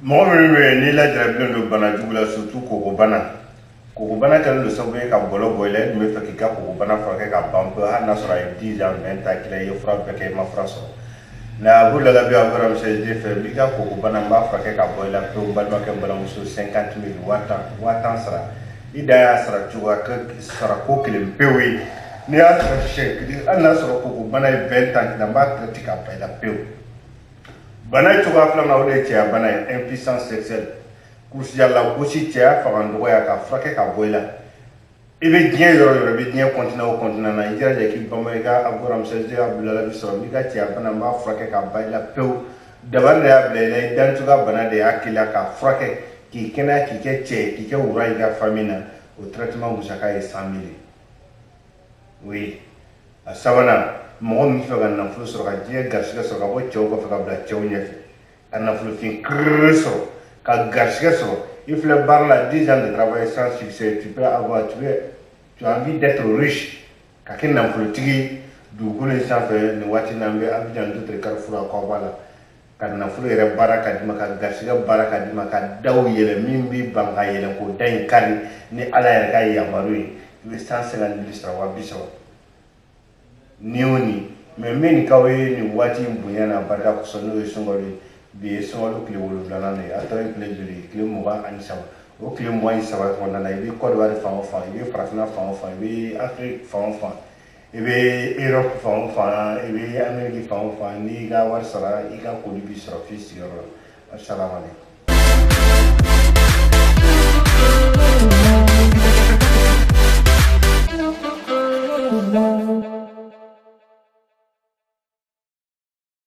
mɔgɔ min bɛ yen n'i lajarabilen don bana jugu la surtout kokobana kokobana kɛlen don sababu ye ka bɔlɔ bɔ i la i dun bɛ fɛ k'i ka kokobana furakɛ ka ban pewu hali n'a sɔrɔ a ye 10 ans 20 ans k'i la i ye fura bɛɛ kɛ i ma fura sɔrɔ na Abdoulaye bien encore monsieur J fɛ n b'i ka kokobana n b'a furakɛ ka bɔ i la pewu n balimakɛ n balimamuso 50 000 waa tan sara i dan y'a sara cogoya sara ko kelen pewu ye n'i y'a sara siɲɛ kelen hali n'a sɔrɔ kokobana ye 20 ans k'i la n b'a traite ka ban i la pewu bana cogoya filanan o de ye cɛya bana ye impuissance sexuelle kulusijala gosi cɛya fanga dɔgɔya ka furakɛ ka bɔ i la i bɛ diɲɛ yɔrɔ yɔrɔ i bɛ diɲɛ continent o continent na i jilaja k'i banba i ka aburamsɛsɛ Abdoulaye bi sɔrɔ n'i ka cɛya bana n b'a furakɛ ka ban i la pewu dabali de y'a bila i la i dancogoya bana de y'a k'i la k'a furakɛ k'i kɛnɛya k'i kɛ cɛ k'i kɛ wara i ka famille na o traitement musaka ye 100 000 oui a sabanan mɔgɔ min fɛ ka nafolo sɔrɔ ka diɲɛ garisigɛ sɔrɔ ka bɔ cɛw kɔfɛ ka bila cɛw ɲɛfɛ ka nafolofin kiriri sɔrɔ ka garisigɛ sɔrɔ i filɛ baara la dix ans de travail sans succès tu as envie d'être riche ka kɛ nafolotigi dugukolo in sanfɛ nin waati n'an bɛ Abidjan N'dotré carrefour à Kɔba la ka nafolo yɛrɛ baara ka di ma ka garisigɛ baara ka di ma ka daw yɛlɛ min b'i ban ka yɛlɛ k'o da in kari ni ala yɛrɛ ka yamaru ye i bɛ cent cinquante mille sara waa bi saba ni o ni mais n bɛ nin k'aw ye nin waati in bonya n'a barika kosɔn n'o ye sunkalo ye bi ye sunkalo tile wolonwulanan de ye a tɔ ye tile joli ye tile mugan ani saba o tile mugan ni saba kɔnɔna na i bɛ kɔdiwari fan o fan i bɛ farafinna fan o fan i bɛ afiriki fan o fan i bɛ Europe fan o fan i bɛ Amérique fan o fan n'i y'i ka wari sara i ka colis b'i sɔrɔ f'i sigiyɔrɔ la asalamaleykum.